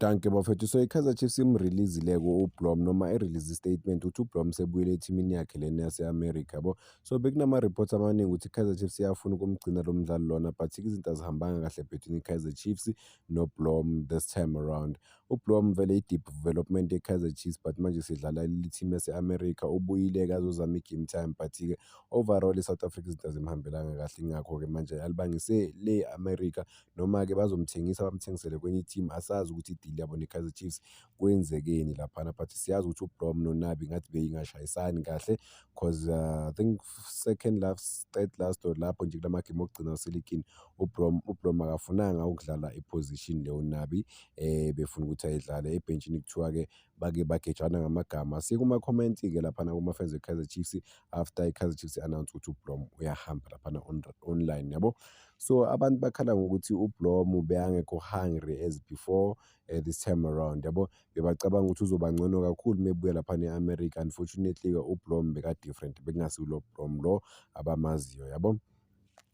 Dankie bafethu so i-Kaizer Chiefs imrelease-leko uBlom noma i-release statement ukuthi uBlom sebuyele ethimini yakhe lena yase-America yabo so bekunama-reports amaningi ukuthi i-Kaizer Chiefs iyafuna ukumgcina lo mdlali lona but izinto azihambanga kahle between i-Kaizer Chiefs noBlom this time around uBlom vele i-deep development ye-Kaizer Chiefs but manje sidlala lithimi yase-America ubuyile-ke azozama i-game time but-ke overall i-South Africa izinto azimhambelanga kahle ingakho-ke manje alibangise le America noma-ke bazomthengisa bamthengisele kwenye i-team asazi ukuthi i-deal yabo ne-Kaizer Chiefs kwenzekeni laphana but siyazi ukuthi uBrom noNabi ngathi beyingashayisani kahle cause uh, I think second last third last or lapho nje kula magemu okugcina useligini uBrom uBrom akafunanga ukudlala iposition le uNabi eh befuna ukuthi ayidlale ebhentshini kuthiwa-ke bake bagejana ngamagama siye kuma-comment-ke laphana kuma-fans we-kaizer chiefs after i-kaizer chiefs announce ukuthi ublom uyahamba laphana on, online yabo so abantu bakhala ngokuthi ublom beyangekho hungry as before uh, this time around yabo bebacabanga ukuthi uzoba ngcono kakhulu mebuya laphana e-america unfortunately-ke ublom beka-different bekungasiwulo blom lo abamaziyo yabo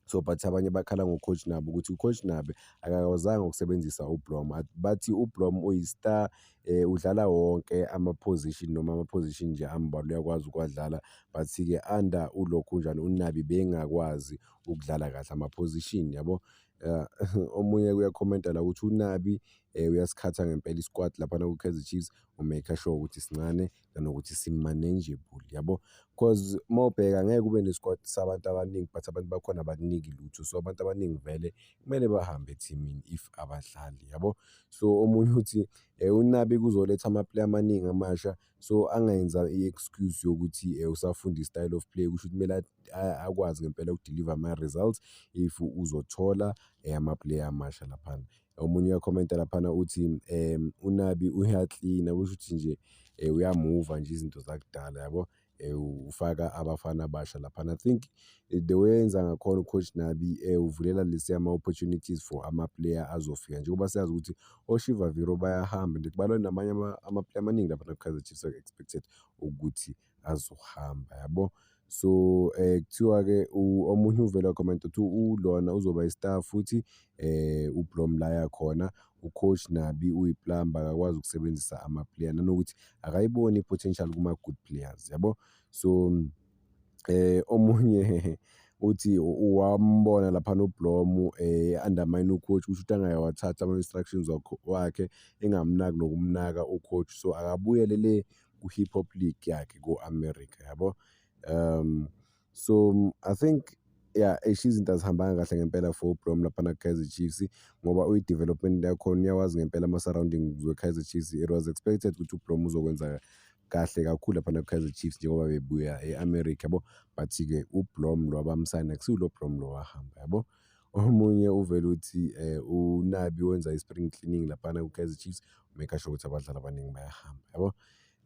So but abanye bakhala ngoCoach Nabi ukuthi uCoach Nabi akakwazanga ukusebenzisa uBlom. Bathi uBlom uyi-star eh, udlala wonke ama-position noma ama-position nje ambalwa uyakwazi ukuwadlala but-ke under ulokhunjani uNabi bengakwazi ukudlala kahle ama-position yabo. Eh, omunye uyakhomenta la ukuthi uNabi eh, uyasikhatha ngempela i-squad laphana kwi-Kaizer Chiefs umaker sure ukuthi sincane nanokuthi si-manageable yabo. Cause uma ubheka ngeke ube ne-squad sabantu abaningi but abantu bakhona abakuniki lutho. So abantu abaningi vele kumele bahambe ethimini if abadlali yabo. So omunye uthi uNabi kuzoletha ama-player amaningi amasha so angenza i-excuse yokuthi usafunda i-style of play kusho ukuthi kumele akwazi ngempela uku-deliver ama-results if uzothola ama-player amasha laphana. omunye uyakhomenta laphana uthi um unabi uyaklina kusho ukuthi nje um uyamuva nje izinto zakudala yabo um ufaka abafana abasha laphana i think eh, the way enza ngakhona ucoach nabi um uvulela lesi ama-opportunities for amaplayer azofika njengoba siyazi ukuthi oshivaviro bayahamba and kubalwa namanye amaplayer amaningi laphana kukaizer chiefs are expected ukuthi azohamba yabo so eh kuthiwa-ke omunye uvele wakhomenta ukuthi ulona uzoba i-star futhi eh ublom la yakhona ucoach nabi uyiplumber akakwazi ukusebenzisa ama-player nanokuthi akayiboni i-potential kuma-good players yabo so eh omunye uthi wambona lapha noblomu eh undermine ucoach kusho ukuthi angayawathatha ama-instructions wakhe engamnaki nokumnaka ucoach so akabuyele le ku-hip hop league yakhe ku-america yabo um so i think ya eish izinto azihambanga kahle ngempela for ubrom laphana kaizer chiefs ngoba uyi-development yakhona uyawazi ngempela ama-surroundings we-kaizer chiefs it was expected ukuthi ubrom uzokwenza kahle kakhulu laphana ku-kaizer chiefs njengoba bebuya e-america yabo but-ke ublom lo abamsayina kusiwulo blom lo wahamba yabo Omunye uvele uthi uNabi wenza i-spring cleaning laphana ku-Kaizer Chiefs make sure ukuthi abadlali abaningi bayahamba yabo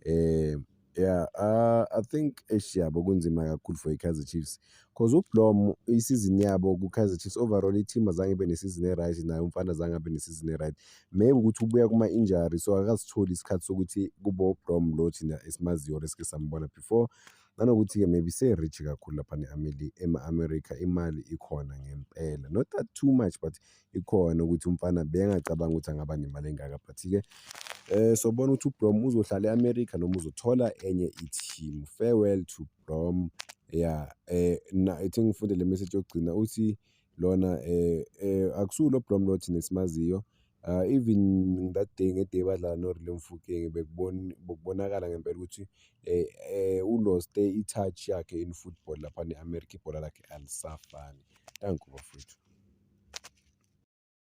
um yeah uh, i think eish yabo kunzima kakhulu for i-Kaizer Chiefs cause ublom isizini yabo ku-Kaizer Chiefs overall i-team azange ibe nesizini e-right naye umfana azange abe nesizini e-right maybe ukuthi ubuya kuma-injury so akasitholi isikhathi sokuthi kubo ublom lo thina esimaziyo or esike sambona before Nanokuthi-ke maybe se-rich kakhulu lapha ne-Ameli- ema-America imali ikhona ngempela not that too much but ikhona ukuthi umfana bengacabanga ukuthi angaba nemali engaka but-ke um sobona ukuthi ubrom uzohlala e-America noma uzothola enye i-team farewell to brom ya um na i think ngifunde le message yokugcina uthi lona um um akusiwo lo Blomlord thina esimaziyo um even that day ngeday badlala noReal Mofokeng bekubonakala ngempela ukuthi um um uloste i-touch yakhe in football lapha ne-America ibhola lakhe alisafani. Dankie bafwethu.